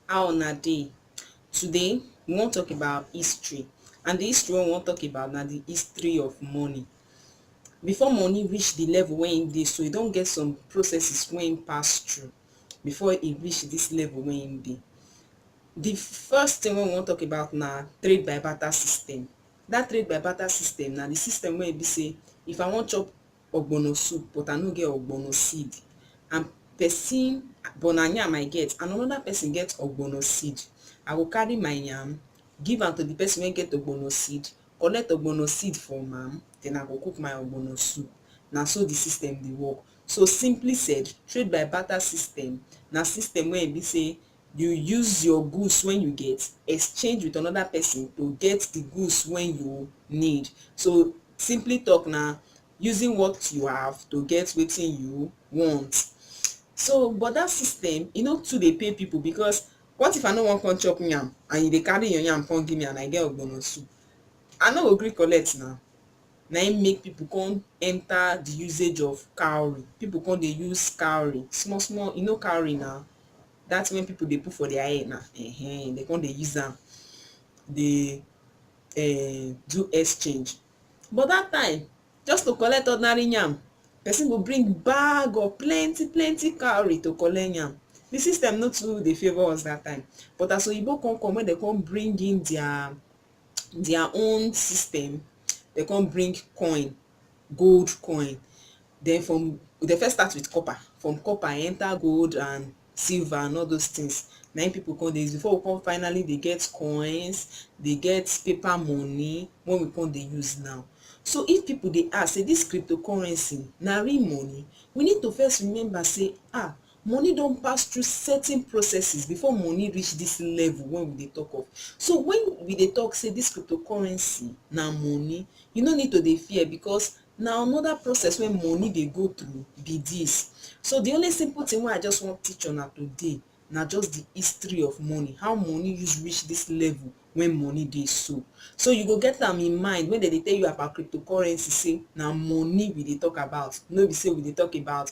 How una dey? Today, we wan talk about history and the history wey we wan talk about na the history of money. Before money reach the level wey e dey so, e don get some processes wey e pass through before e reach this level wey e dey. The first thing wey we wan talk about na trade by barter system. That trade by barter system na the system wey e be say if I wan chop ogbono soup but I no get ogbono seed and person but na yam I get and another person get ogbono seed, I go carry my yam give am to the person wey get ogbono seed, collect ogbono seed from am then I go cook my ogbono soup. Na so the system dey work. So simply said, trade by barter system na system wey e be sey You use your goods wen you get exchange with another person to get the goods wen you need. So simply talk na using what you have to get wetin you want. So but that system e no too dey pay people because what if I no wan come chop yam and you dey carry your yam come give me and I get ogbono soup? I no go gree collect na. Na im make people come enter the usage of cowry. People come dey use cowry small small. You know cowry na? that thing wey people dey put for their hair now, um dem come dey use am dey um do exchange. But that time, just to collect ordinary yam, person go bring bag of plenty plenty cowry to collect yam. The system no too dey favour us that time. But as Oyinbo come come, when dem come bring in their their own system, dem come bring coin. gold coin den from dey first start with copper from copper e enter gold and silver and all those things na im people come dey use before we come finally dey get coins dey get paper money wey we come dey use now so if people dey ask sey this cryptocurrency na real money we need to first remember sey ah Money don pass through certain processes before money reach this level wey we dey talk of. So when we dey talk say this cryptocurrency na money, you no need to dey fear because na another process wey money dey go through be this. So the only simple thing wey I just wan teach una today na just the history of money, how money use reach this level wey money dey so. So you go get am in mind when dem dey tell you about cryptocurrency say na money we dey talk about, no be say we dey talk about